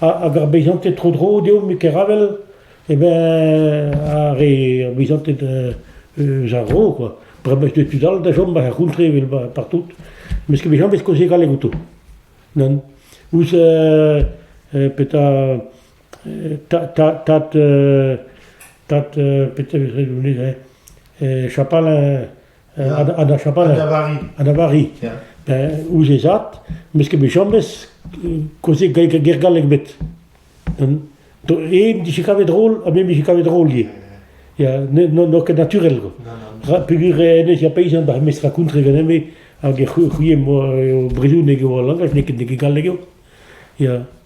hag ar beizanted tro-dro deomp e Keravel, e ben ar re ar beizanted eus ar vro quoi. Bremañ eus tud all da chom war ar c'hontre evel partout. Met e bezañs koze galleg outo. Non ouzh petra tad tad petra chapal ha da Chabannes. Ha da Vari. Ha da Vari. Ouzh e zad, meus ket bet james kozeg ger-gallek bet. E dije kavet drol, ha me dije kavet drol ivez. N'o ket naturel. Pegur enez, ya peisan bar mestra kontre ganeme, hag e c'houie mo bredouneg eo al langaj, n'eo ket galleg eo. Ya,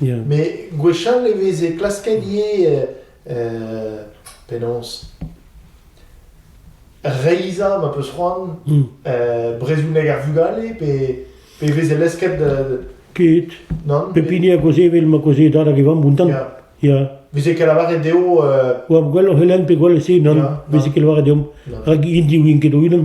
Met gwechall e veze klasket ivez penaos reizhañ ma peus c'hoant brezhoneg ar vugale pe pe veze lesket ket non pep hini a gozhe evel ma gozhe dad hag e vamm buntan ya veze ket lavaret dezho gwell o c'helenn pe gwell se nann veze ket lavaret deomp rak int diwin ket o-unan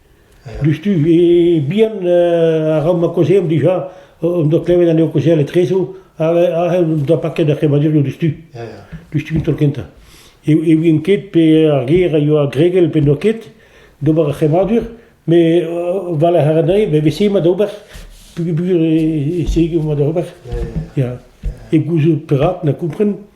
Diouzhtu bihan a ra ma kaozeomp dija, hon doa klevet anezho kaozeal etrezo ha hen o doa paket ar c'hemmadurioù diouzhtu, diouzhtu an taol kentañ. E ouient ket pe ar ger a yoa gregel pe n'oa ket d'ober ar c'hemmadur, met war-lerc'h aranei e veze mat ober peogwir e sege mat ober, ya, e gouzout perak, na kompren.